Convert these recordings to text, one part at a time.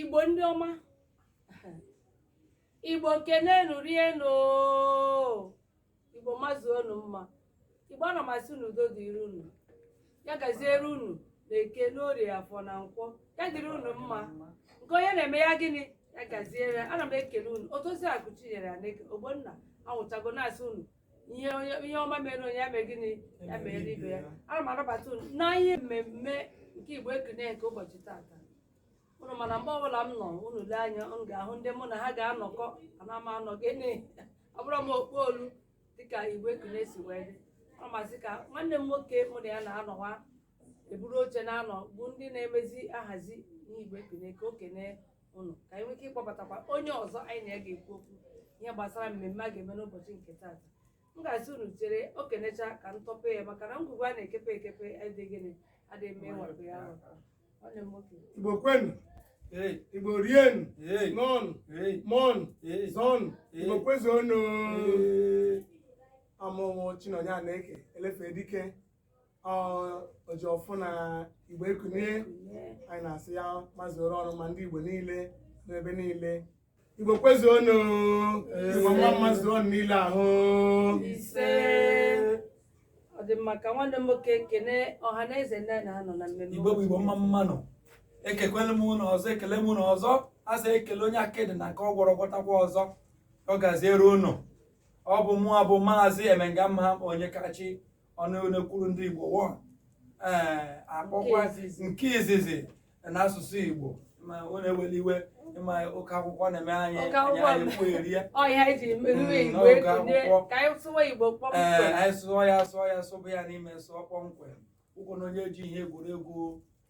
igbo ndị ọma igbo kenenu rienu igbo mazu unu mma igbo ana m asị unu udo dịrị unu ya gaziere unu na eke n'orie afọ na nkwọ ya dịrị unu mma nke onye na-eme ya gịnị ya gaziere ana m ekele unu otozi akụchinyere aneke ogbonna anwụchago na-asị unu ihe onye ihe ọma mere onye ya mere gịnị ya mere ibe ya ana m anabata unu na ihe mmemme nke igbo ekunie nke ụbọchị taata unu ma na mgbe ọbụla m nọ unu lee anya unu ga-ahụ ndị mụ na ha ga-anọkọ ana m anọ gịnị ọ bụrụ m okpu olu dịka igbo ekunie si wee dị ana m asị ka nwanne m nwoke mụ na ya na-anọwa eburu oche na-anọ bụ ndị na-emezi ahazi n'igbo ekunie ka o kenee ụnụ ka anyị nwee ike ịkpọbatakwa onye ọzọ anyị na ya ga-ekwu okwu ihe gbasara mmemme a ga-eme n'ụbọchị nke taata m ga-asị unu chere o kenecha ka m tọpee ya maka na ngwugwu a na-ekepe ekepe adịghị gịnị adịghị eme ịwapụ ya awapụ nwanne m nwoke igbo kwenu Hey, igbo rienu hey, ṅụọnụ hey, mụọnụ hey. zụọnụ Ee. igbo kwezuonu Ee. abụ mụ chinonye aneke elefe dike oji ọfọ na igbo ekunie anyị na-asị ya mazuoro unu mma ndị igbo niile n'ebe niile igbo kwezuonụ igbo mma mmasị ọnụ niile ahụ ise ọ dị mma ka nwanne m nwoke kene ọha na eze ndị na-anọ na mmemme igbo bụ igbo mma mmanụ ekekwele m unu ọzọ ekele m unu ọzọ a sị e kelee onye akịdị na nke ọ gwọrọ ọ gwọtakwa ọzọ ọ gaziere ụnụ ọ bụ mụwa bụ maazị emenga mma onyekachi ọnụ na-ekwuru ndị Igbo wọ ee akpọkwa nke izizi n'asụsụ Igbo ma ọ na-eweli iwe ịma oke akwụkwọ na-eme anyị Oke akwụkwọ anyị ekwu eri ya Ọ ihe anyị ji emewe Mm, Igbo n'oge ego ndị akwụkwọ. ka anyị sụwa Igbo ee kpọmkwem. anyị sụọ ya sụọ ya sụbụ ya n'ime sụọ kpọmkwem ụkwụ na onye ji ihe egwuregwu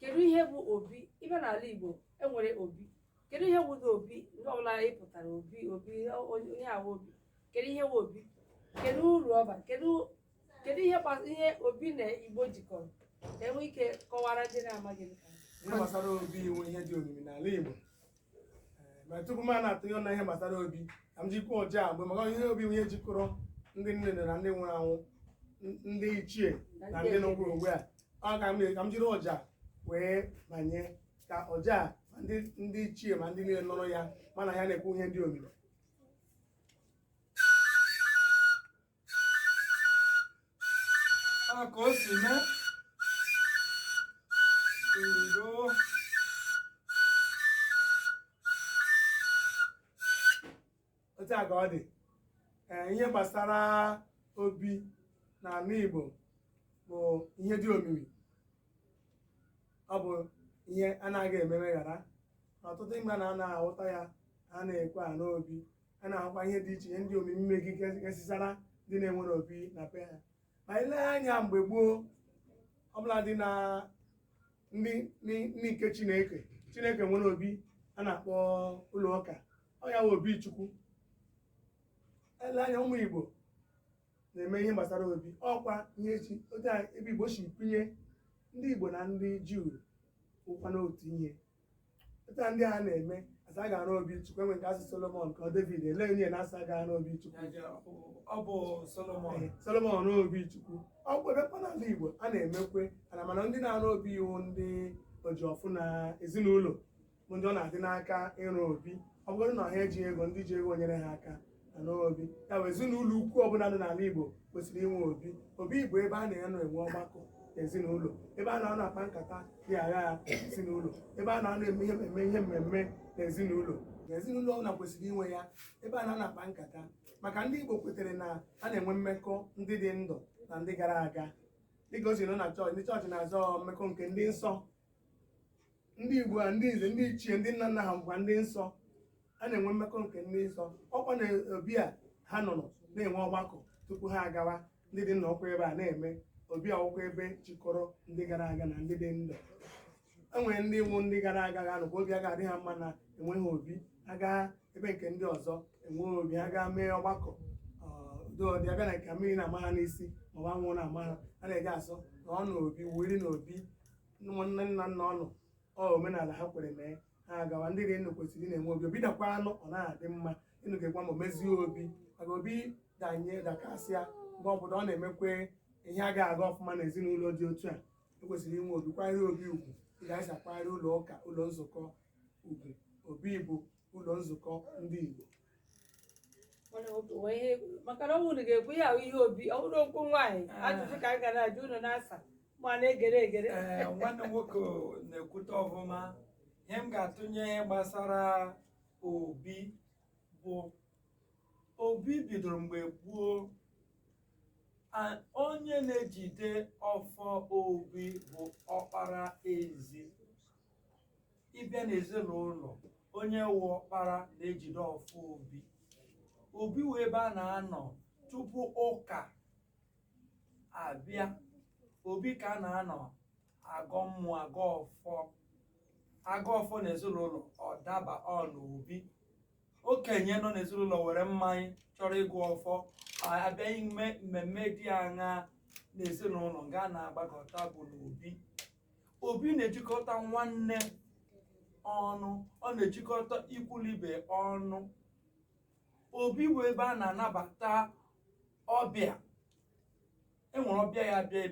kedu ihe bụ obi ibe n'ala Igbo e nwere obi kedu ihe bụ obi ndị ọbụla ị pụtara obi obi onye ahụ obi kedu ihe bụ obi kedu uru ọ bara kedu kedu ihe ihe obi na Igbo jikọrọ ka e nwee ike kọwaara ndị na-amaghị ihe gbasara obi wụ ihe dị omimi n'ala Igbo ma tupu m na-atụnye na ihe gbasara obi ka m jikwa ọja agbe maka ihe obi wụ ihe jikọrọ ndị nne na ndị nwụrụ anwụ ndị ichie na ndị nọkwuru ugbu a ọ ka m jiri ọja wee banye ka ọja ma ndị ichie ma ndị niile nụrụ ya ma na ya na-ekwu ihe dị omimi ka o si mee udo otu a ka ọ dị ee ihe gbasara obi na ala Igbo bụ ihe dị omimi ọ bụ ihe anaghị eme emeghara ọtụtụ mgbe na a na-ahụta ya a na-ekwe a n'obi a na-ahụkwa ihe dị iche ihe ndị omimi mmegi kesịsara ndị na-enwere obi na be ha ma i lee anya mgbe gboo ọbụla dị na ndị ndị nke chineke chineke nwere obi a na-akpọ ụlọ ụka ọ ya wụ obi chukwu e lee anya ụmụ igbo na-eme ihe gbasara obi ọ wụkwa ihe eji otu ebe igbo si pinye ndị igbo na ndị juu wụkwanụ otu ihe Pụta ndị a na-eme a sị a ga-arụ obi chukwu e nwee nke a sị Solomon ka ọ David ele onye na asa ga-arụ obi chukwu ọ bụ Solomon Solomon arụọ obi chukwu ọ bụ ebekwa n'ala Igbo a na-emekwe a na-ama na ndị na-arụ obi wụ ndị ojiọfọ na ezinụlọ bụ ndị ọ na-adị n'aka ịrụ obi ọ bụrụ na ha ejighị ego ndị ji ego nyere ha aka n'obi ya bụ ezinụlọ ukwu ọbụla dị n'ala Igbo kwesịrị inwe obi obi bụ ebe a na-anọ enwe ọgbakọ ezinụlọ ebe a na-anọ akpa nkata dị agha ezinụlọ ebe a na-anọ eme ihe mmemme ihe mmemme na ezinụlọ na ezinụlọ ọbụla kwesịrị inwe ya ebe a na-anọ akpa nkata maka ndị Igbo kwetere na a na-enwe mmekọ ndị dị ndụ na ndị gara aga dịka o si nọ na chọọchị ndị chọọchị na-asị mmekọ nke ndị nsọ ndị Igbo a ndị nze ndị ichie ndị nna nna ha bụkwa ndị nsọ a na-enwe mmekọ nke ndị nsọ ọkwa na obi a ha nọrọ na-enwe ọgbakọ tupu ha agawa ndị dị ndụ nọkwa ebe a na-eme obi a wụkwa ebe chịkọrọ ndị gara aga na ndị dị ndụ enwere ndị wụ ndị gara aga ga-anọkwa obi a ga-adị ha mma na enweghị obi aga ebe nke ndị ọzọ enweghị obi ha gaa mee ọgbakọ dodị abịa na nke mmiri na-ama ha n'isi maọbụ anwụ na-ama ha a na-eji asị na ọ na obi wuri na obi nwanne nna nna ọnụ ọ omenala ha kwere mee ha agawa ndị dị ndụ kwesịrị ịna-enwe obi obi dakwanụ ọ na-adị mma ịnụ ga-egwa ma o mezie obi maka obi danye dakasịa mgbe ọbụla ọ na-emekwe ihe a ga-aga ọfụma na ezinụlọ dị otu a e kwesịrị inwe obi kwanyere obi ugwu ị ga-esi akwanyere ụlọ ụka ụlọ nzukọ ugwu obi bụ ụlọ nzukọ ndị Igbo Mana ọ bụ onye- maka na ọ bụrụ na ị ga-ekwu ya ahụ ihe obi ọ bụrụ okwu nwaanyị ajụjụ ka anyị ga na-ajụ unu na-asa ma na-egere egere ee nwanne m nwoke na-ekwute ọfụma ihe m ga-atụnye ihe gbasara obi bụ obi bidoro mgbe gboo A- onye na-ejide ọfọ obi bụ ọkpara ezi ị bịa n'ezinụlọ onye wụ ọkpara na-ejide ọfọ obi obi wụ ebe a na-anọ tupu ụka abịa obi ka a na-anọ agọ mmụọ agọ ọfọ agọ ọfọ na ezinụlọ ọ daba ọ n'obi okenye nọ n'ezinụlọ were mmanya chọrọ ịgọ ọfọ a bịa ime mmemme dị aṅa n'ezinụlọ nga a na-agbakọta bụ n'obi obi na-ejikọta nwanne ọnụ ọ na-ejikọta ikwu na ibe ọnụ obi bụ ebe a na-anabata ọbịa e nwere ọbịa ya bịa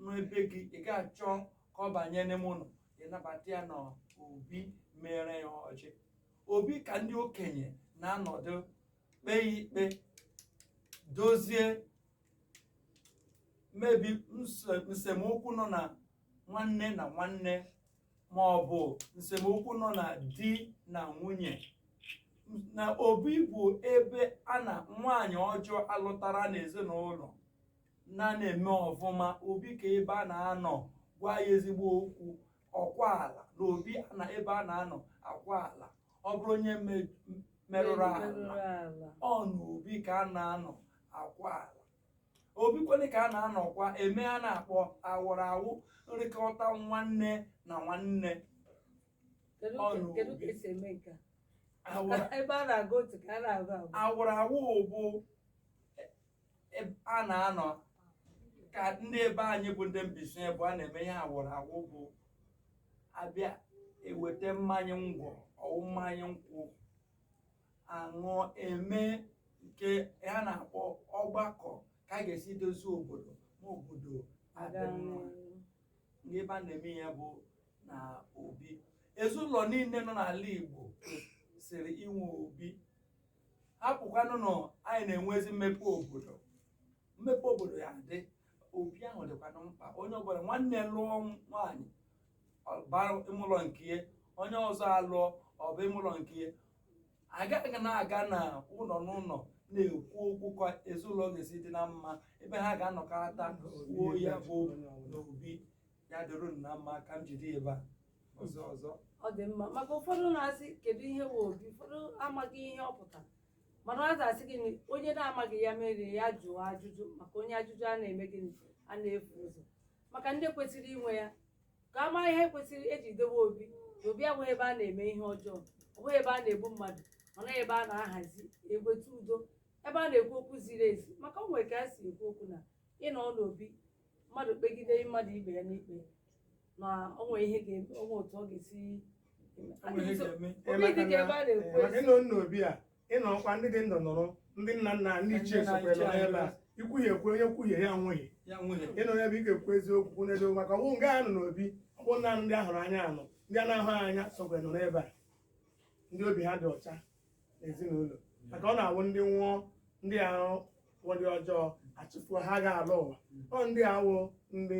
n'ebe gị ị ga-achọ ka ọ banye n'ime ụlọ ị nabata ya na obi mere ya ọjị obi ka ndị okenye na-anọdụ kpee ikpe dozie mmebi nse- nsemokwu nọ na nwanne na nwanne ma ọ bụ nsemokwu nọ na di na nwunye na obi bụ ebe a na nwaanyị ọjọọ a lụtara n'ezinụlọ na na-eme ọfụma obi ka ebe a na-anọ gwa ya ezigbo okwu ọkwa ala na obi a na ebe a na-anọ akwa ala ọ bụrụ onye me- merụrụ ala ọ n'obi ka a na-anọ akwa ala obi kwanụ ka a na-anọkwa eme ihe a na-akpọ awụrụ awụ nrikọta nwanne na nwanne Kedu Ọ ka- nụ kedu ka oge. e si eme nke a? awụrụ ebe a na-agụ otu ka a na-agụ abụọ awụrụ awụ bụ e- e- a na-anọ ka ndị ebe anyị bụ ndị Mbaise bụ a na-eme ihe awụrụ awụ bụ a bịa eweta mmanya ngwọ ọ wụ mmanya nkwụ a ṅụọ e mee nke ha na-akpọ ọgbakọ ka a ga-esi dozie obodo ma obodo adị mma nga ebe a na-eme ya bụ na obi ezinụlọ niile nọ n'ala Igbo kwesịrị inwe obi hapụkwanụ na anyị na-enwezi mmepe obodo mmepe obodo ya adị obi ahụ dịkwanụ mkpa onye ọbụla nwanne lụọ nwaanyị bara ime ụlọ nke ya onye ọzọ alụọ ọ baa ime ụlọ nke ya a gaghị na-aga na ụlọ n'ụlọ na-ekwu okwu ka ezinụlọ ga-esi dị na mma ebe ha ga-anọkọta kwuo ya bụ n'obi ya dịrị unu na mma ka m jide ya ebe a ọzọ ọzọ ọ dị mma maka ụfọdụ na-asị kedu ihe wụ obi ụfọdụ amaghị ihe ọ pụtara mana ọ ga-asị gị na onye na-amaghị ya mere ya jụọ ajụjụ maka onye ajụjụ a na-eme gịnị a na-efu ụzọ maka ndị kwesịrị inwe ya ka a mara ihe e kwesịrị eji dowe obi na obi abụghị ebe a na-eme ihe ọjọọ ọ bụghị ebe a na-egbu mmadụ ọ na-awụ ebe a na-ahazi egweta udo ebe a na-ekwu okwu ziri ezi maka o nwere ka a si ekwu okwu na ịnọ n'obi mmadụ kpegide mmadụ ibe ya n'ikpe na o nwere ihe ga-eme o nwere otu ọ ga-esi Enweghị ga-eme. Obi dị ka ebe a na-ekwu Maka ịnọ na obi a ị nọkwa ndị dị ndụ nọrọ ndị nna nna ndị ichie sokwa nọ n'ebe a ikwuhie ekwe onye kwuhie ya nwụọ ị nọ n'ebe ị ga-ekwu eziokwu n'ebe maka ọ wụ nga a nọ n'obi ọ bụ naanị ndị a hụrụ anya nọ ndị a na-ahụ anya sokwa nọ n'ebe a ndị obi ha dị ọcha n'ezinụlọ maka ọ na-awụ ndị nwụọ ndị ahụ wụ ndị ọjọọ a chụfuo ha ga-ala ụwa ọ ndị a wụ ndị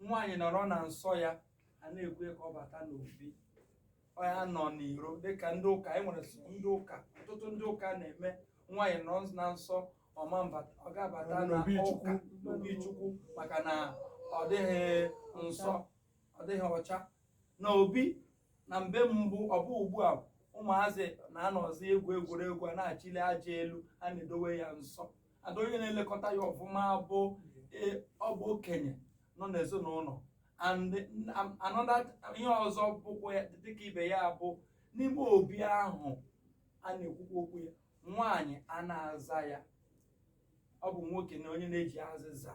nwaanyị nọrọ na nsọ ya a na-ekwe ka ọ bata n'obi ọ ya-anọ n'iro dịka ndị ụka e nwere so ndị ụka ọtụtụ ndị ụka na-eme nwaanyị nọ na nsọ ọ ma abata ọ ga-abata na N'obi Chukwu. ụka n'obi chukwu maka na ọ dịghị nsọ ọ dịghị ọcha na obi na mbe mbụ ọ bụ ugbu a ụmụazị na-anọzi egwu egwuregwu a na-achịli aja elu a na-edowe ya nsọ ada onye na-elekọta ya ọfụma bụ e, ọ bụ okenye nọ n'ezinụlọ and am- another ihe ọzọ bụkwa ya dịka ibe ya bụ n'ime obi ahụ a na-ekwukwa okwu ya nwaanyị a na-aza ya ọ bụ nwoke na onye na-eji azịza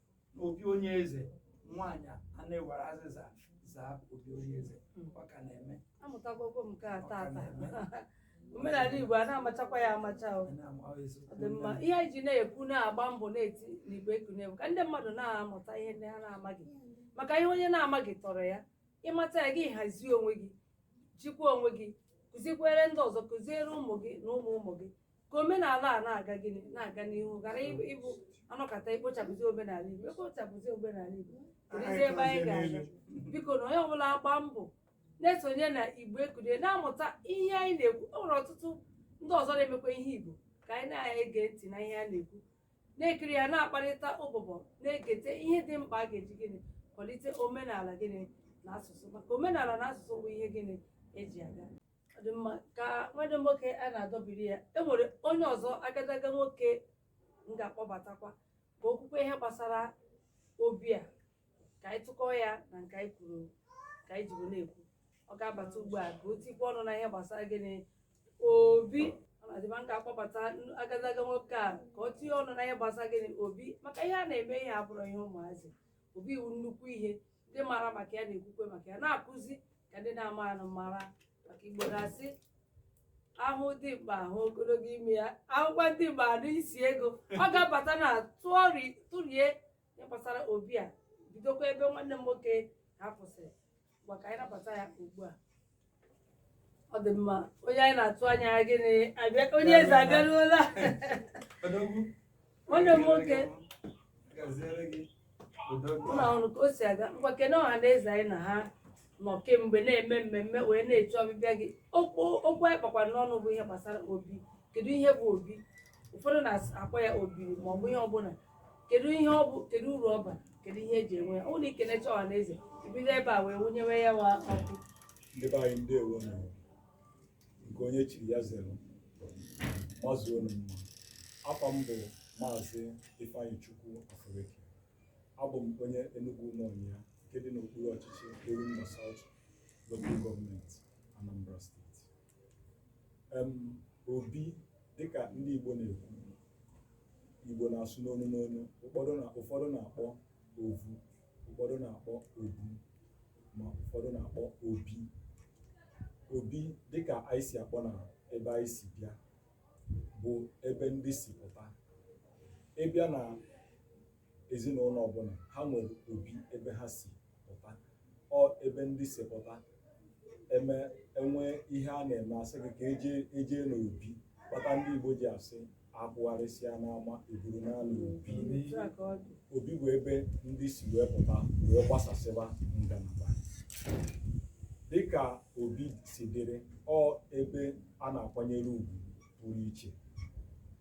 n'obi onye eze nwaanyị a na-ewere azịza zaa obi onye eze ọ ka na-eme amụtago m nke a ọ ka tata na-eme omenala igbo a na-amachakwa ya amacha o Anyị na-ama ọ eziokwu. ọ dị mma ihe anyị ji na-ekwu na-agba mbọ na-eti n'igbo ekunie bụ ka ndị mmadụ na-amụta ihe ndị ha na-amaghị maka ihe onye na-amaghị tọrọ ya ị mata ya gị hazie onwe gị jikwa onwe gị kụzikwere ndị ọzọ kụziere ụmụ gị na ụmụ ụmụ gị ka omenala a na-aga gịnị na-aga n'ihu ghara ịbụ ịbụ a nọkata ekpochapụzi omenala igbo ekpochapụzi omenala igbo keduzi ebe anyị ga-aga bikonụ onye ọbụla agba mbọ na-esonye na igbo ekulie na-amụta ihe anyị na-ekwu o nwere ọtụtụ ndị ọzọ na-emekwa ihe igbo ka anyị na-ege ntị na ihe a na-ekwu na-ekiri ya na-akparịta ụbụbọ na-egete ihe dị mkpa a ga-eji gịnị kwalite omenala gịnị na asụsụ maka omenala na asụsụ bụ ihe gịnị eji aga Ọ dị mma ka nwanne m nwoke a na-adọbiri ya e nwere onye ọzọ agadaga nwoke m ga-akpọbatakwa ka o kwukwa ihe gbasara obi a ka anyị tụkọọ ya na nke anyị kwuru ka anyị jibu na-ekwu ọ ga-abata ugbu a ka o tikwa ọnụ na ihe gbasara gịnị obi ọ na-adị mma m ga-akpọbata n- agadaga nwoke a ka o tinye ọnụ na ihe gbasara gịnị obi maka ihe a na-eme ihe abụrọ ihe ụmụazị obi wụ nnukwu ihe ndị mara maka ya na-ekwukwe maka ya na-akụzi ka ndị na-amaanụ mara maka igbo na-asị ahụ dimkpa ahụ ogologo imi ya ahụkwa dimkpa anụ isi ego ọ ga-abata na tụọri tụrie ihe gbasara obi a bidokwa ebe nwanne m nwoke a kwụsịrị ma ka anyị nabata ya ugbu a ọ dị mma onye anyị na-atụ anya ya gịnị abịa onye eze abịaruola Odogwu. nwanne m nwoke Gaziere gị. Odogwu. ụlọ ọrụ ka o si aga ngwa kene ọha na eze anyị na ha nọ kemgbe na-eme mmemme wee na-eche ọbịbịa gị okwu okwu anyị kpakwara n'ọnụ bụ ihe gbasara obi kedu ihe bụ obi ụfọdụ na-akpọ ya obi ma ọ bụ ihe ọbụla kedu ihe ọ bụ kedu uru ọ bara kedu ihe eji enwe ya ọ bụrụ na i kenechaa ọha na eze i bido ebe a wee wụnyewe ya wa ọkụ ndị be anyị ndeewo nụ nke onye chiri ya zere mazuonụ mma afa m bụ maazị ifeanyịchukwu afureke abụ m onye enugwu ụmụọnyịa nke dị n'okpuru ọchịchị orumba south local gọọmenti anambra steeti em obi dịka ndị Igbo na-ekwu Igbo na-asụ n'onu n'onu ụfọdụ na ụfọdụ na-akpọ ovu ụfọdụ na-akpọ obu ma ụfọdụ na-akpọ obi obi dịka anyị si akpọ na ebe anyị si bịa bụ ebe ndị si pụta ị bịa na ezinụlọ ọbụla ha nwere obi ebe ha si pụta ọ ebe ndị si pụta em enwee ihe a na-eme asị gị ka ejee n'obi kpata ndị Igbo ji asị akwụgharịsịa n'ama eburu naa n'obi obi bụ ebe ndị si wee pụta wee gbasasịba ngalaba dịka obi si dịrị ọ ebe a na-akwanyere ugwu pụrụ iche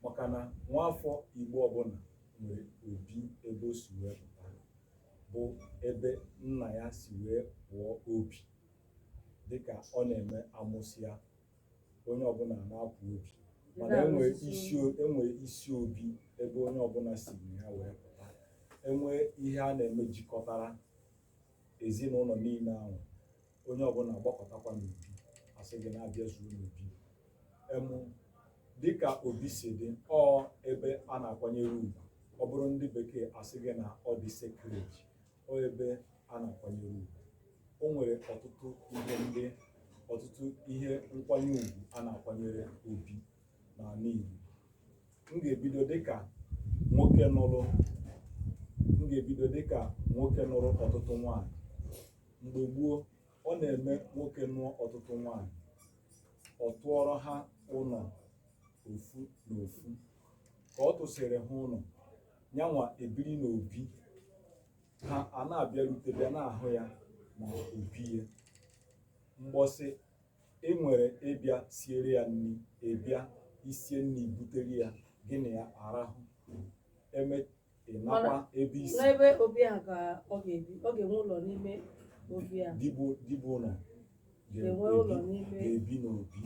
maka na nwaafọ Igbo ọbụla nwere obi ebe o si wee pụta bụ ebe nna ya si wee pụọ obi dịka ọ na-eme amụsịa onye ọbụla na-apụ obi mana enwere isi obi ebe onye ọbụla si na ya wee pụta enwee ihe a na-eme jikọtara ezinụlọ niile ahụ onye ọbụla agbakọtakwa n'obi asị gị na abịazuo n'obi em dịka obi si dị ọ ebe a na-akwanyere ugwu ọ bụrụ ndị bekee asị gị na ọ dị sacred ọ ebe a na-akwanyere ugwu o nwere ọtụtụ ihe ndị ọtụtụ ihe nkwanye ugwu a na-akwanyere obi n'ala Igbo m ga-ebido dịka nwoke nụrụ m ga-ebido dịka nwoke nụrụ ọtụtụ nwaanyị mgbe gboo ọ na-eme nwoke nụọ ọtụtụ nwaanyị ọ tụọrọ ha ụlọ ofu na ofu ka ọ tụsịrị ha ụlọ yanwa ebiri na obi ha ana-abịarute bịa na-ahụ ya na obi ya mbọsị i nwere ịbịa siere ya nri ị bịa i sie nri butere ya gị na ya arahụ e mee ị nakwa ebe i si n'ebe obi a ka ọ ga-ebi ọ ga-enwe ụlọ n'ime obi a dibụ dibụ ụlọ ga-enwe ụlọ n'ime ga-ebi n'obi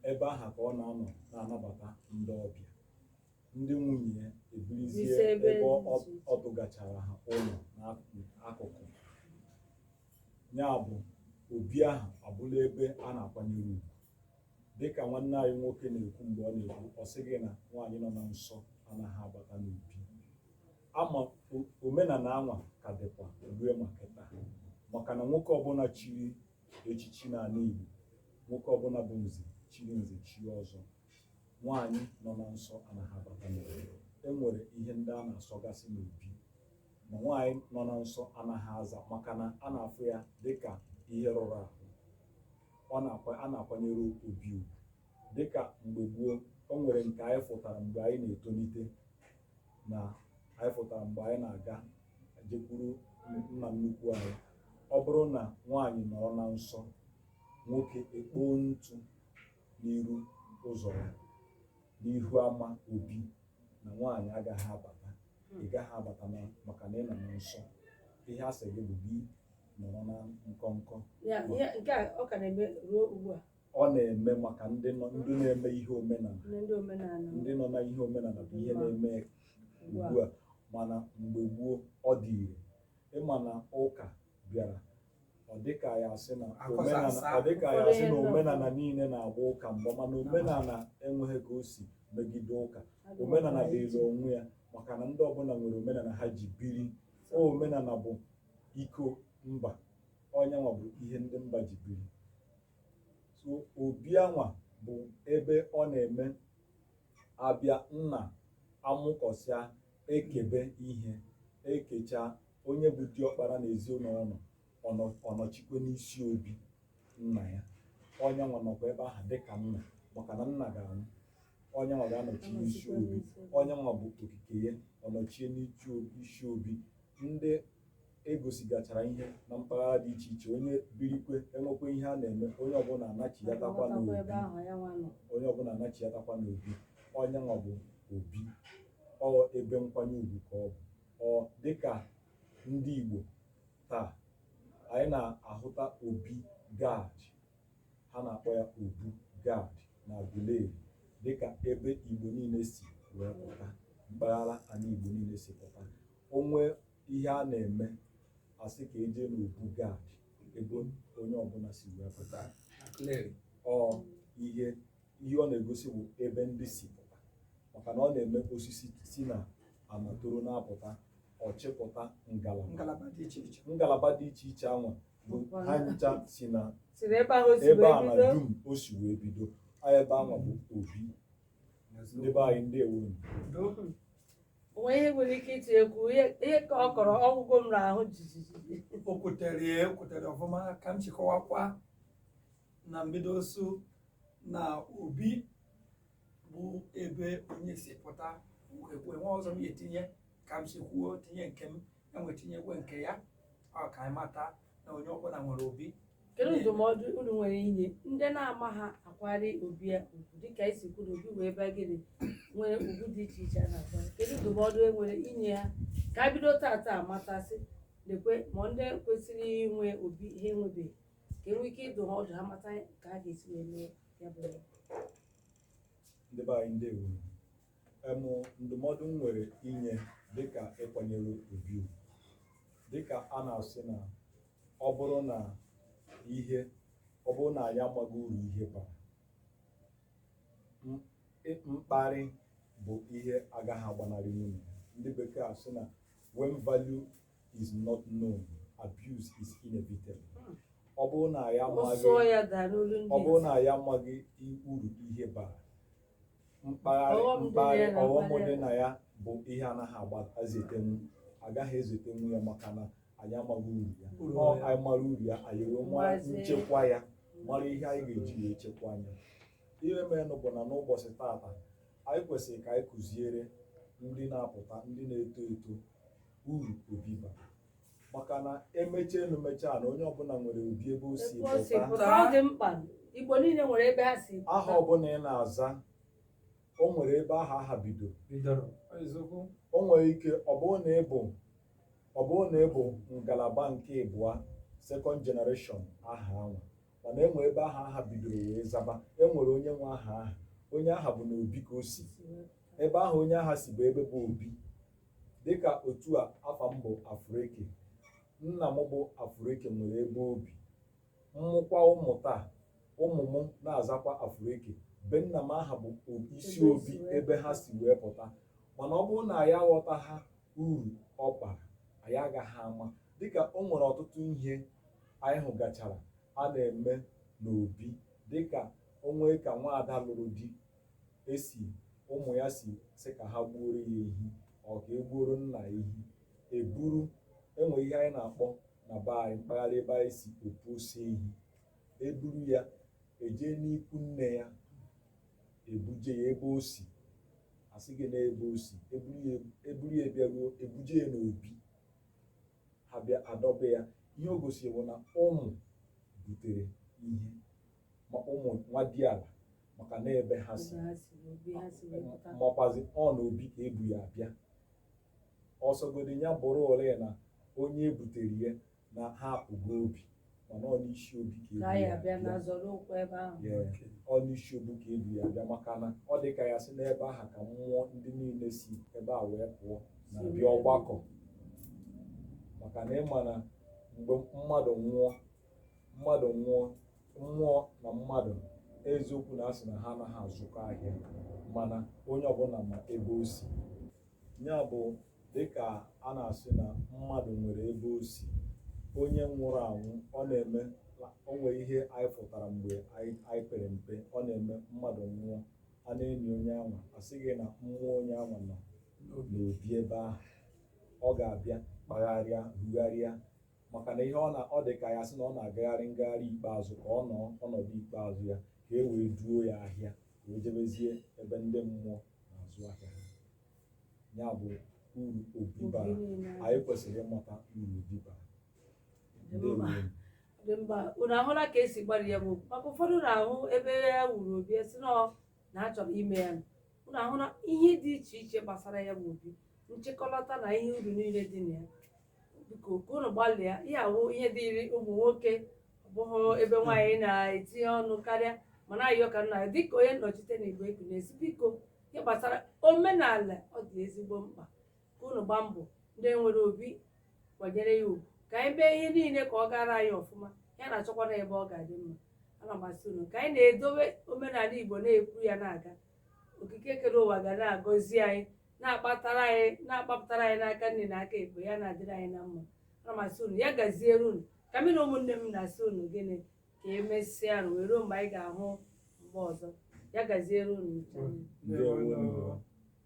ebe aha ka ọ na-anọ na-anabata ndị ọbịa ndị nwunye ya ebirizie ebe ọ tụgachara ha ụlọ n'akụkụ ya bụ obi ahụ abụla ebe a na-akwanyere ugwu dịka nwanne anyị nwoke na-ekwu mgbe ọ na-ekwu ọ sị gị na nwaanyị nọ na nsọ anaghị abata n'obi ama omenala anwa ka dịkwa rue ma kịta maka na nwoke ọbụla chiri echichi n'ala Igbo nwoke ọbụla bụ nze chiri nze chie ọzọ nwaanyị nọ na nsọ anaghị abata n'obi e nwere ihe ndị a na-asọgasị n'obi na nwaanyị nọ na nsọ anaghị aza maka na a na-afụ ya dịka ihe rụrụ arụ ọ na-akwa a na-akwanyere obi ugwu dịka mgbe gboo o nwere nke anyị fụtara mgbe anyị na-etolite na anyị fụtara mgbe anyị na-aga ejekwuru nna nnukwu anyị ọ bụrụ na nwaanyị nọrọ na nsọ nwoke ekpoo ntụ n'iru ụzọ ya n'ihu ama obi na nwaanyị agaghị abata ị gaghị abata na maka na ị nọ na nsọ ihe a sị gị bụ gị nọrọ na nkọnkọ Ya, ihe nke a ọ ka na-eme ruo ugbu a ọ na-eme maka ndị nọ ndị na-eme ihe omenala na ndị omenala ndị nọ na ihe omenala bụ ihe na-eme ugbu a ugbu a mana mgbe gboo ọ dị ire ị ma na ụka bịara ọ dịka ya asị na Akọsa omenala asa. ọ dịka ya asị na Ụfọdụ omenala niile na-agba ụka mgba mana omenala enweghị ka o si megide ụka omenala dịịrị onwe ya maka na ndị ọbụla nwere omenala ha ji biri O omenala bụ iko mba ọ nyanwa bụ ihe ndị mba ji biri so obi anwa bụ ebe ọ na-eme a bịa nna amụkọsịa ekebe ihe ekecha onye bụ diọkpara na ezinụlọ ọ nọchikwe n'isi obi nna ya onye anwa nọkwa ebe ahụ dịka nna maka na nna ga-anwụ onye anwa ga-anọchi n'isi obi onye anwa bụ okike ya ọ nọchie n'isi obi ndị a gosigachara ihe na mpaghara dị iche iche onye birikwe enwekwa ihe a na-eme onye ọbụla anachiyatakwa n'obi onye ọbụla anachiyatakwa n'obi onye anwa bụ obi ọ ebe nkwanye ugwu ka ọ bụ Ọ dịka ndị Igbo taa, anyị na-ahụta Obi Gad, ha na-akpọ ya Obu Gad na Aguleri dịka ebe Igbo niile si wee pụta, mpaghara anyị Igbo niile si pụta. O nwe ihe a na-eme a sị ka e je n'Obu Gad ebe onye ọbụla si wee pụta. Ọ ihe ihe ọ na-egosi bụ ebe ndị si pụta maka na ọ na-eme osisi si na ama toro na-apụta ọ chịpụta ngalaba ngalaba dị iche iche ngalaba dị iche iche anwa bụ ha ncha si na si na ebe ahụ o si ebe wee a na bido dum o si wee bido a ebe anwa bụ obi ndị be anyị ndeewonụ o nwe ihe nwere ike iti egwu ihe ihe ka ọ kọrọ ọgwụgwọ m n'ahụ jijiji o kwutere ya ekwutere ọfụma ka m chịkọwakwa na mbido ọ sị na obi bụ ebe onye si pụta ekwe nwa ọzọ m ga-etinye ka m si kwuo tinye nke m e wee tinyekwe nke ya ọ ka anyị mata na onye ọbụla nwere obi kedu ndụmọdụ unu nwere inye ndị na-amaha akwanyere obi ya ugwu dịka i si kwuru obi wee bịa gịnị nwere ugwu dị iche iche a na-akwanyere kedu ndụmọdụ e nwere inye ha ka a bido tata matasị lekwe ma ndị kwesịrị inwe obi ha enwebeghị ka e nwee ike ịdụ ha ọdụ ha mata ka ha ga-esi wee mee ya bụ ihe. ndị be anyị ndeewonụ em ndụmọdụ m nwere inye dịka ịkwanyere obi ugwu dịka a na-asị na ọ bụrụ na ihe ọ bụrụ na anyị amaghị uru ihe bara m- ị- mkparị bụ ihe agaghị agbanarịnwu ya ndị bekee asị na when value is not known abuse is inevitable ọ bụrụ na ya amaghị ọ bụrụ na ya amaghị uru ihe bara mkparị mkparị ọghọm dị na ya bụ ihe anaghị agba ezetenwu agaghị ezetenwu ya maka na anyị amaghị uru ya ọ anyị mara uru ya anyị wee mara nchekwa ya mara ihe anyị ga-eji ya echekwa anya ihe merenụ bụ na n'ụbọchị taata anyị kwesịrị ka anyị kuziere ndị na-apụta ndị na-eto eto uru obi bara maka na emechaa enu mechaa ana onye ọbụla nwere obi ebe o si Ebe o si pụta pụta, ọ dị mkpa igbo niile nwere ebe ha si pụta. aha ọbụla ị na-aza o nwere ebe aha aha bido bidoro eziokwu o nwere ike ọ bụrụ na ị bụ ọ bụrụ na ị bụ ngalaba nke ịbụa second generation aha ahụ mana enwere ebe aha aha bidoro wee zaba enwere onye nwe aha aha onye aha bụ na obi ka o si ebe aha onye aha si bụ ebe bụ obi dịka otu a afa m bụ afụrụeke nna m bụ afụrụeke nwere ebe obi m mụkwaa ụmụ taa ụmụ m na-azakwa afụrụeke be nna m aha bụ isi obi ebe ha si wee pụta mana ọ bụrụ na anyị aghọtaha uru ọ bara anyị agaghị ama dịka o nwere ọtụtụ ihe anyị hụgachara a na-eme n'obi dịka o nwee ka nwa ada lụrụ di esi ụmụ ya si sị ka ha gbuoro ya ehi ọ ka egbuoro nna ya ehi eburu enwere ihe anyị na-akpọ na be anyị mpaghara ebe anyị si opu ose ehi eburu ya ejee n'ikwu nne ya ebuje ya ebe o si a sị gị na ebe o si eburu ya bịaruo ebuje ya n'obi ha bịa adọba ya ihe o gosiri bụ na ụmụ butere ihe ma ụmụ nwadiala maka na ebe ha si makwazi ọ na obi ka ebu ya abịa ọ sọgodi ya bụrụ ole na onye ebutere ya na ha apụgo obi mana ọ n'isi obi ka ebu ya bịa ọ n'isi obi ka ebu ya bịa maka na ọ dị ka ya sị n'ebe aha ka mmụọ ndị niile si ebe a wee pụọ na-abịa ọgbakọ maka na ịma na mgbe mmadụ nwụọ mmadụ nwụọ mmụọ na mmadụ eziokwu na a sị na ha anaghị azụkọ ahịa mana onye ọbụla ma ebe o si ya bụ dịka a na-asị na mmadụ nwere ebe o si onye nwụrụ anwụ ọ na-eme o nwere ihe anyị fụtara mgbe anyị pere mpe ọ na-eme mmadụ nwụọ a na-eni onye anwa a sị gị na mmụọ onye anwa nọ n'obi ebe ahụ ọ ga-abịa kpagharịa rugharịa maka na ihe ọ dị ka ya sị na ọ na-agagharị ngagharị ikpeazụ ka ọ nọ ọnọdụ ikpeazụ ya ka e wee duo ya ahịa ka o jebezie ebe ndị mmụọ na-azụ ahịa ha ya bụ uru obi bara anyị kwesịrị ịmata uru obi bara dị mma unu ahụla ka esi gbara ya bụ maka ụfọdụ na-ahụ ebe e wuru obi a sị na ọ na a chọrọ ime ya unu ahụla ihe dị iche iche gbasara ya bụ obi nchịkọlọta na ihe uru niile dị na ya biko ka unu gbalịa ihe a wụ ihe dịịrị ụmụ nwoke ọ bụghị ebe nwaanyị na-etinye ọnụ karịa mana ayọ ka m na-ayọ dịka onye nnọchite na igbo ekwu na-asị biko ihe gbasara omenala ọ dị ezigbo mkpa ka unu gbaa mbọ ndị nwere obi kwanyere ya ugwu ka anyị mee ihe niile ka ọ gara anyị ọfụma ya na-achọkwa na ebe ọ ga-adị mma ana m asị unu ka anyị na-edowe omenala igbo na-ekwu ya na-aga okike kere ụwa ga na-agọzi anyị na-akpatara anyị na-akpapụtara anyị n'aka nni na aka ekpe ya na-adịrị anyị na mma ana m asị unu ya gaziere unu ka mmiri ụmụnne m na-asị unu gịnị ka emesịanụ wee ruo mgbe anyị ga-ahụ mgbe ọzọ ya gaziere unu ncha. Ndewo.